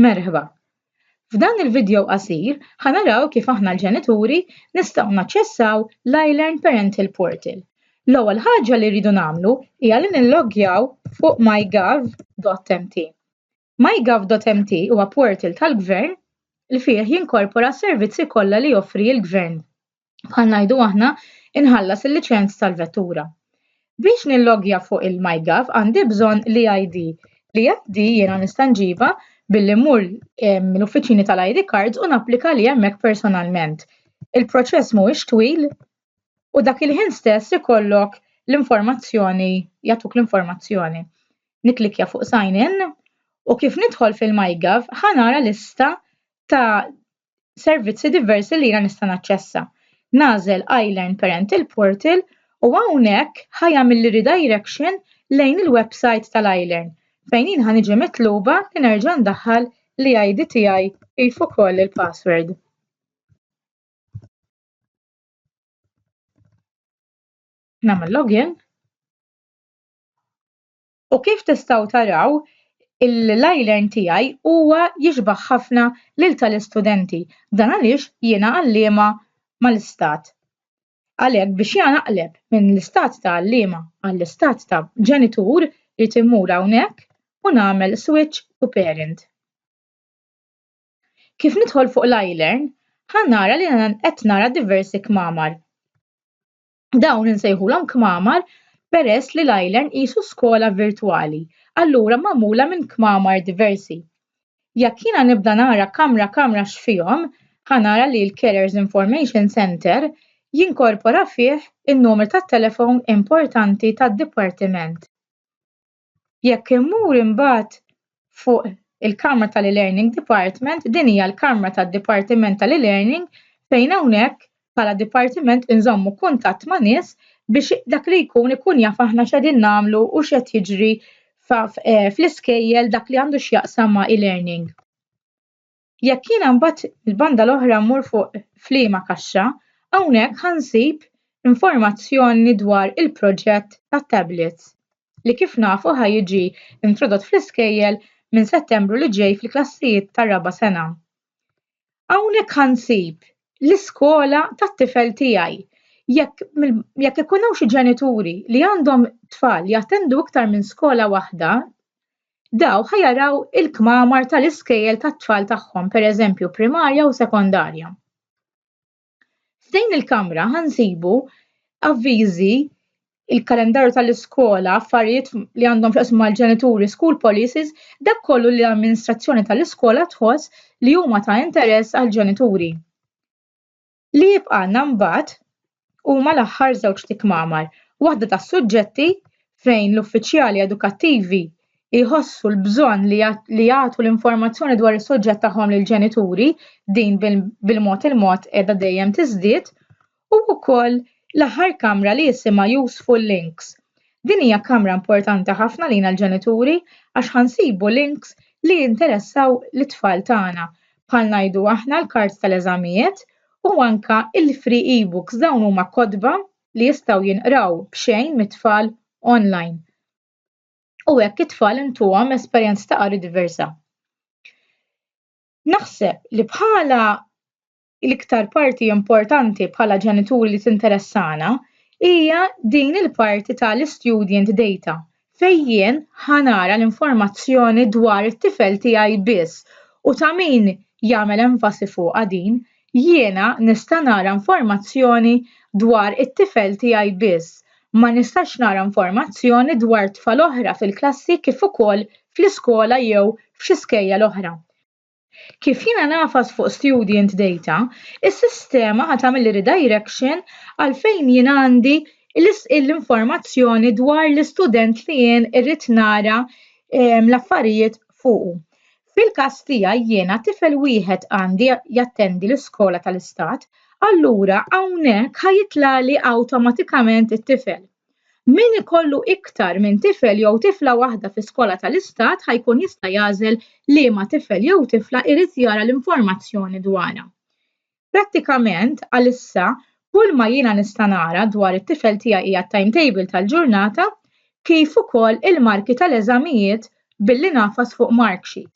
Merħba! F'dan il-vidjow qasir ħa naraw kif aħna l-ġenituri nistgħu naċċessaw l-iLearn Parental Portal. L-ewwel ħaġa li rridu nagħmlu hija li nilloggjaw fuq mygov.mt. Mygov.mt huwa portal tal-Gvern li fih jinkorpora s-servizzi kollha li joffri l-Gvern. bħal ngħidu aħna, inħallas il-liċenz tal-vettura. Biex nilloggja fuq il-MyGov għandi bżonn li ID. Li ID jiena nista' nġiba billi mmur ehm, l-uffiċini tal-ID cards u napplika li hemmhekk personalment. Il-proċess mhuwiex twil u dak il-ħin stess ikollok l-informazzjoni, jagħtuk l-informazzjoni. Niklikja fuq sign in u kif nidħol fil-MyGov ħanara lista ta' servizzi diversi li jiena nista' naċċessa. Nagħżel iLearn Parental Portal u hawnhekk ħa jagħmilli redirection lejn il-websajt tal-iLearn fejn jien ħa niġi mitluba li nerġa' ndaħħal l-EID tiegħi kif ukoll il-password. Nagħmel login. U kif tistgħu taraw l-eyelern tiegħi huwa jixbah ħafna lil tal-istudenti. Dan għaliex jiena għalliema mal-istat. Għalhekk biex jiena naqleb minn l-istat ta' għalliema għall-istat ta' ġenitur irid immur hawnhekk u nagħmel switch to parent. Kif nidħol fuq l-eyelern ħa nara li qed nara diversi kmamar. Dawn insejħulhom kmamar peress li l-iLearn qisu skola virtwali, allura magħmula minn kmamar diversi. Jekk jiena nibda nara kamra kamra x'fihom, ħa nara li l-Carers Information Centre jinkorpora fih in-numri tat-telefon importanti tad-dipartiment. Jekk immur imbagħad fuq il-kamra tal-e-learning department, din hija l-kamra tad-dipartiment tal-e-learning fejn hawnhekk bħala dipartiment inżommu kuntatt ma' nies biex dak li jkun ikun jaf aħna x'qegħdin nagħmlu u x'qed jiġri fl-iskejjel dak li għandu x'jaqsam ma' e-learning. Jekk jiena mbagħad il-banda l-oħra mmur fuq f'liema kaxxa, hawnhekk ħa nsib informazzjoni dwar il-proġett tat-tablets li kif nafu ħa jiġi introdott fl-iskejjel minn Settembru li ġej fil-klassijiet tar-raba' sena. Hawnhekk ħa nsib l-iskola tat-tifel tiegħi. Jekk jekk ikun hawn xi ġenituri li għandhom tfal jattendu iktar minn skola waħda, dawn ħa jaraw il-kmamar tal-iskejjel tat-tfal tagħhom, pereżempju primarja u sekondarja. F'din il-kamra ħa nsibu avviżi il-kalendarju tal-iskola, affarijiet li għandhom x'jaqsmu mal-ġenituri, school policies, dak kollu li l-amministrazzjoni tal-iskola tħoss li huma ta' interess għall-ġenituri. Li jibqgħalna mbagħad huma l-aħħar żewġt ikmamar, waħda tas-suġġetti fejn l-uffiċjali edukattivi jħossu l-bżonn li jagħtu l-informazzjoni dwar is-suġġett tagħhom lill-ġenituri, din bil-mod il-mod qiegħda dejjem tiżdied, u wkoll l-aħħar kamra li jisimha Useful Links. Din hija kamra importanti ħafna lina l-ġenituri għax ħa nsibu links li jinteressaw lit-tfal tagħna bħal ngħidu aħna l-kards tal-eżamijiet u anke l-free e-books. Dawn huma kotba li jistgħu jinqraw b'xejn mit-tfal online. U hekk it-tfal intuhom esperjenza ta' qari diversa. Naħseb li bħala l-iktar parti importanti bħala ġenituri li tinteressana hija din il-parti tal-istudent data fejn jien ħa nara l-informazzjoni dwar it-tifel tiegħi biss u ta' min jagħmel enfasi fuqha din, jiena nista' nara informazzjoni dwar it-tifel tiegħi biss, ma nistax nara informazzjoni dwar tfal oħra fil-klassi kif ukoll fl-iskola jew f'xi skejjel oħra. Kif jiena ngħafas fuq student data, is-sistema ħa tagħmilli redirection għal fejn jien għandi l-informazzjoni dwar l-istudent li jien irrid nara l-affarijiet fuqu. Fil-każ tiegħi jiena tifel wieħed għandi jattendi l-iskola tal-istat, allura hawnhekk ħa jitlagħli awtomatikament it-tifel. Min ikollu iktar minn tifel jew tifla waħda fi skola tal-Istat ħa jkun jista' jagħżel liema tifel jew tifla jrid jara l-informazzjoni dwarha. Prattikament, għalissa, kull ma jiena nista' nara dwar it-tifel tiegħi hija t-timetable tal-ġurnata kif ukoll il-marki tal-eżamijiet billi ngħafas fuq marksheet.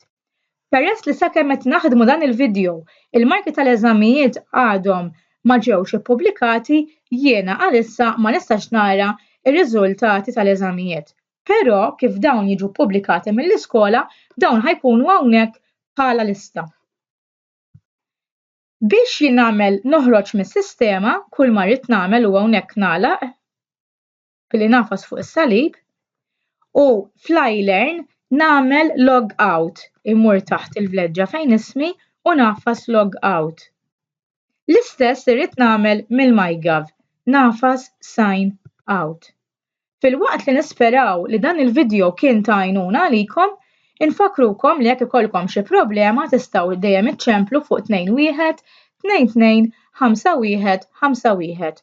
Peress li sakemm qed naħdmu dan il-vidjow il-marki tal-eżamijiet għadhom ma ġewx ippubblikati, jiena għalissa ma nistax nara r-riżultati tal-eżamijiet. Però kif dawn jiġu ppubblikati mill-iskola, dawn ħa jkunu hawnhekk bħala lista. Biex jien nagħmel noħroġ mis-sistema, kull ma rrid nagħmel hu hawnhekk nagħlaq. billi nagħfas fuq is-salib u fl-iLearn nagħmel log out, immur taħt il-vleġġa fejn ismi u nagħfas log out. L-istess irrid nagħmel mill-MyGov, nagħfas sign out. Filwaqt li nisperaw li dan il-vidjo kien ta' għajnuna għalikom, infakkrukom li jekk ikollkom xi problema tistgħu dejjem iċċemplu fuq 21 22 51 51